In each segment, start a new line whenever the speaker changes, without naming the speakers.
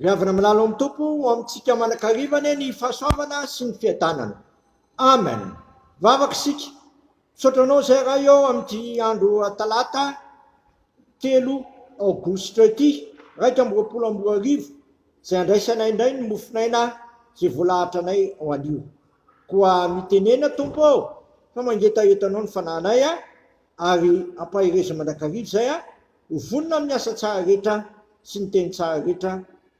Ry havana milalo amin'ny Tompo, ho amintsika manakariva anie ny fahasoavana sy ny fiadanana. Amen. Vavaka isika. Misaotra anao izay Ray ô amin'ity andro Talata telo Aogositra ity, iraika amby roapolo amby roa arivo, izay andraisanay indray ny mofon'aina izay voalahatra anay ho anio. Koa mitenena Tompo ô, fa mangetahetanao ny fanahinay a, ary ampahereza mandrakariva izay a, Ho vonona amin'ny asa tsara rehetra sy ny teny tsara rehetra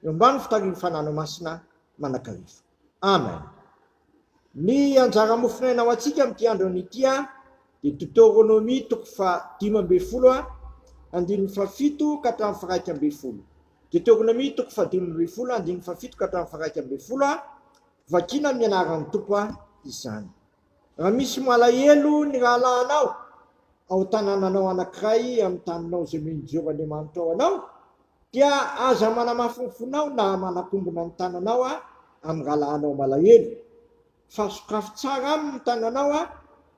eo ambany fitarian'ny fanano masina manakariva. Amen. Ny anjara mofonaina ho antsika amin'ity andro anio ity dia Deuteronomie toko fahadimy ambin'ny folo andininy fahafito ka hatramin'ny faharaika ambin'ny folo. Deuteronomie toko fahadimy ambin'ny folo andininy fahafito ka hatramin'ny faharaika ambin'ny folo, Vakiana amin'ny anaran'ny Tompo izany. Raha misy malahelo ny rahalahinao ao tanànanao anankiray amin'ny taninao izay mino Jehovahandriamanitra ao anao, dia aza manamafy ny fonao na manakombona ny tananao amin'ny rahalahinao malahelo, fa sokafy tsara aminy ny tananao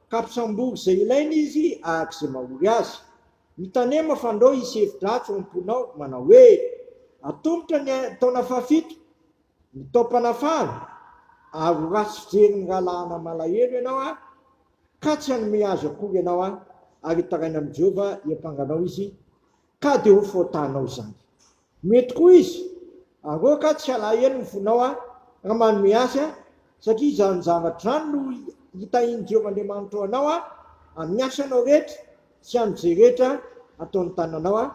ka ampisambory izay ilainy izy araka izay mahory azy. Mitanema fandrao hisy hevi-dratsy ao am-ponao manao hoe, Atomotra ny taona fahafito Mitaom-panahy faly ary ho ratsy fijery ny rahalahana malahelo ianao aho, ka tsy hanome azy akory ianao aho, ary hitaraina amin'i Jehovah hiampanga anao izy, ka dia ho fahotanao izany. Mety koa izy haroaka tsy halahelo ny fonao aho, raha manome azy aho, satria izany zavatra izany no hitahian'i Jehovah Andriamanitrao anao, amin'ny asanao rehetra sy amin'izay rehetra ataon'ny tananao.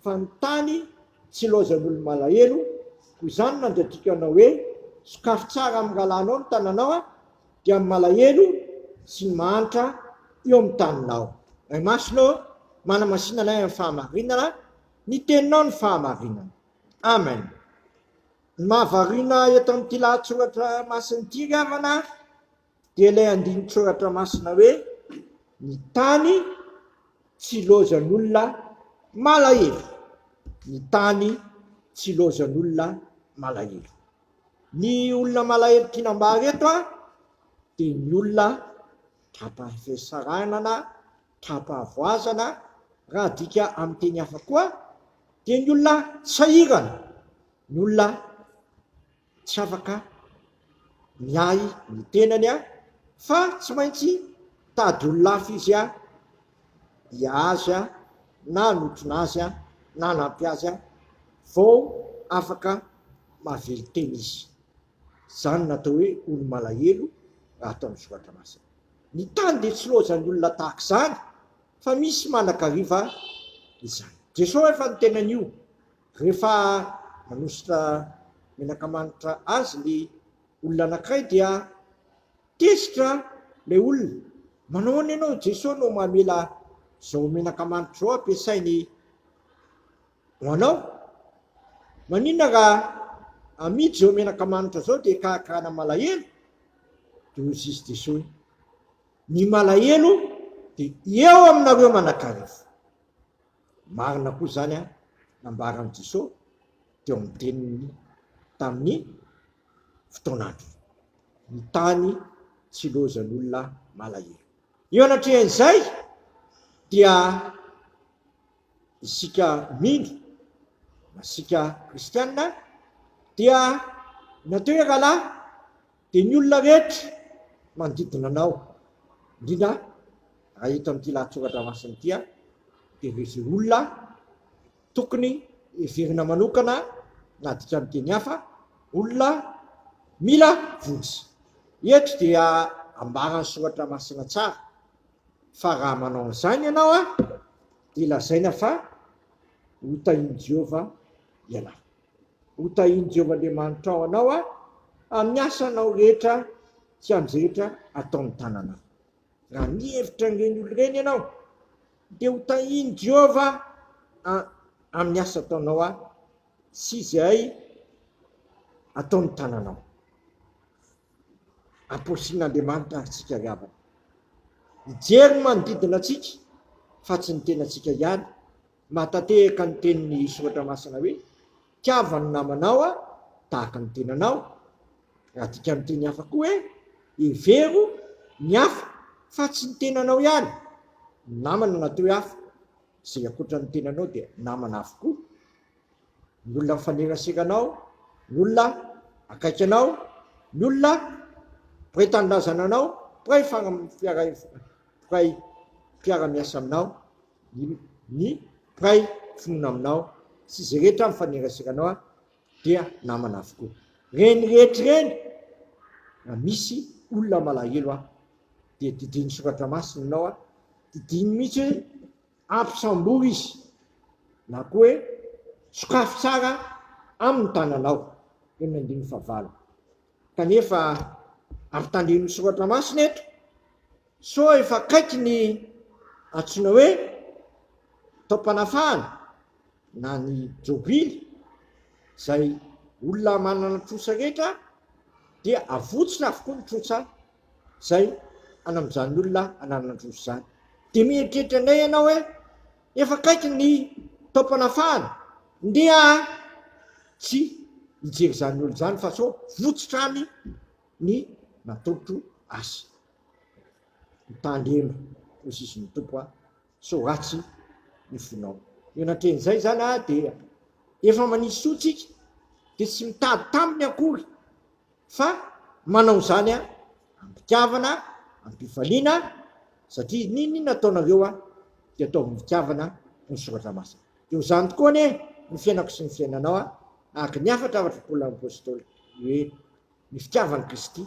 Fa ny tany tsy ilaozan'olo-malahelo, koa izany nandratiko anao hoe, Sokafy tsara amin'ny rahalahinao ny tananao, dia ny malahelo sy ny mahantra eo amin'ny taninao. Ray Masina ô, manamasina anay amin'ny fahamarinana, ny Teninao no fahamarinana. Amen. Ny mahavariana eto amin'ity lahatsoratra masin'ity ry havana, Dia ilay andinin-tsoratra masina hoe, Ny tany tsy ilaozan'olona malahelo. Ny tany tsy ilaozan'olona malahelo. Ny olona malahelo tiana ambara eto dia ny olona tra-pahasahiranana, tra-pahavoazana, raha adika amin'ny teny hafa koa dia ny olona sahirana, ny olona Tsy afaka miahy ny tenany aho fa tsy maintsy tady olon-hafa izy aho dia azy aho na notrona azy aho na nampy azy aho vao afaka mahavelo tena izy. Izany no atao hoe olo-malahelo raha atao amin'ny soratra masina. Ny tany dia tsy loazan'ny olona tahaka izany fa misy manakariva izany. Jesoa efa niteny an'io. Rehefa manosotra menaka manitra azy ny olona anankiray dia tezitra ilay olona. Manahoana ianao Jesoa no mamela izao menaka manitra izao ampiasainy ho anao? Maninona raha amidy izao menaka manitra izao dia karakarana malahelo? Dia hoy izy Jesoa hoe, Ny malahelo dia eo aminareo manakarivo. Marina koa izany an, nambaran'i Jiso teo amin'ny teniny tamin'ny fotoan'andro ny tany tsy lozan'olona malahelo. Eo anatrehan'izay dia isika mino na isika kristianina dia nateo i Rahalahy. dia ny olona rehetra manodidina anao, indrindra raha eto amin'ity lahatsoratra masina ity, dia ireo izay olona tokony heverina manokana na adika amin'ny teny hafa, olona mila vonjy. Eto dia ambaran'ny soratra masina tsara fa raha manao an'izany ianao dia lazaina fa ho tahian'i Jehovah ianao. Hotahian'i Jehovah Andriamanitrao anao amin'ny asanao rehetra sy amin'ny izay rehetra ataon'ny tananao. Raha mihevitra an'ireny olona ireny ianao, dia hotahian'i Jehovah amin'ny asa ataonao sy izay ataon'ny tananao. Amporisih'Andriamanitra àry isika ry havana. Hijery ny manodidina antsika, fa tsy ny tenantsika ihany. Mahatantehaka ny tenin'ny Soratra Masina hoe, Tiava ny namanao tahaka ny tenanao. Adika amin'ny teny hafa koa hoe, Hevero ny hafa fa tsy ny tenanao ihany. Ny namana natao hoe hafa. Izay ankoatra ny tenanao dia namana avokoa. Ny olona mifanerasera anao, ny olona akaiky anao, ny olona mpiray tanindrazana anao, mpiray fiara-miasa aminao. Ny mpiray finoana aminao sy izay rehetra mifanerasera anao dia namana avokoa. Ireny rehetra ireny, raha misy olona malahelo dia didiany soratra masina ianao, didiany mihitsy hoe ampisambory izy na koa hoe sokafy tsara amin'ny tananao, teny andininy fahavalo. Kanefa ampitandremin'ny soratra masina eto. Sao efa akaiky ny antsoina hoe taom-panafahana na ny jobily, izay olona manana trosa rehetra dia avotsina avokoa ny trosa izay any amin'izany olona ananana trosa izany. Dia mieritreritra indray ianao hoe efa akaiky ny taom-panafahana, ndeha tsy hijery izany olona izany fa sao votsitra any ny nataotro azy. Mitandrema hoy izy ny Tompo a! sao ratsy ny fonao. Eo natrehin'izay izany a! dia efa manisy soa tsika dia tsy mitady taminy akory fa manao izany a! am-pitiavana, am-pifaliana satria n'inon'inona ataonareo a! dia ataovy am-pitiavana hoy ny Soratra Masina. Dia ho izany tokoa anie ny fiainako sy ny fiainanao a! araka ny hafatra afatr' Paoly Apostoly hoe Ny fitiavan'i Kristy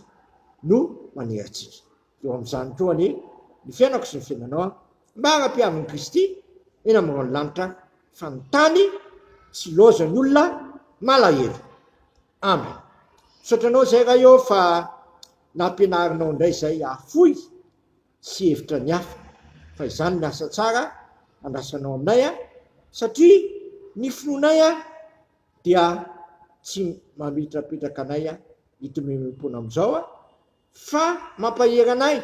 no manery antsika. Eo amin'izany koa anie ny fiainako sy ny fiainanao an! Mba ampihavin'i Kristy eny amin'ny rahon'ny lanitra fa ny tany tsy ilaozan'ny olona malahelo. Amen! Misaotra anao izay Ray ô fa nampianarinao indray izay hahafoy sy hihevitra ny hafa fa izany ny asa tsara andrasanao aminay an! Satria ny finoanay an! dia tsy mametrapetraka anay ito maimaimpoana amin'izao fa mampahery anay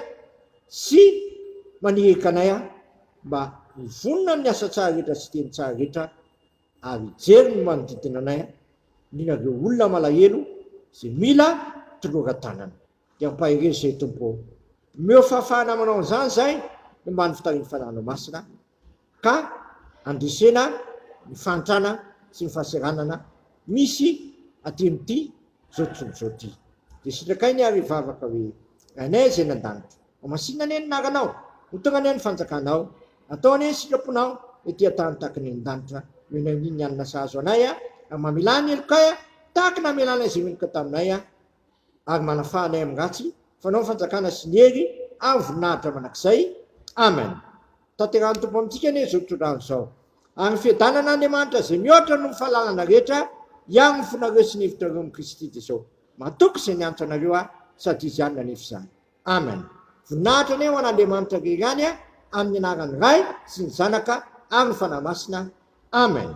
sy manirika anay mba ho vonona amin'ny asa tsara rehetra sy teny tsara rehetra ary hijery ny manodidina anay indrindra ireo olona malahelo izay mila toloran-tanana. Dia ampahereza izay Tompo ô. Omeo fahafahana manao an'izany izahay ny ambany fitarihan'ny Fanahinao Masina. ka handresena ny fahantrana sy ny fahaseranana misy aty amin'ity zao tontolo zao ty de sitrakainy ary vavaka hoe Rainay Zay any an-danitra ao masinina anie ny anaranao hotogna anie ny fanjakanao atao anie ny sitraponao ety an-tany tahaka ny any an-danitra omenay ny ny hanina sahazo anay ary mamelà ny helokay tahaka ny namelanay izay meloka taminay ary manafaha anay amin'ny ratsy, fanao ny fanjakana sy ny hery ary voninahitra mandrakizay. Amen. Tanterahin'ny Tompo amintsika anie izao tontolo andro izao. Ary ny fiadanan'Andriamanitra izay mihoatra noho ny fahalalana rehetra hiaro ny fonareo sy ny hevitrareo amin'i Kristy Jesosy. Matoky izay niantoka anareo aho sady Izy ihany nanefa izany. Amen. Voninahitra anie ho an'Andriamanitra irery ihany amin'ny anaran'ny Ray sy ny Zanaka ary ny Fanahy Masina. Amen.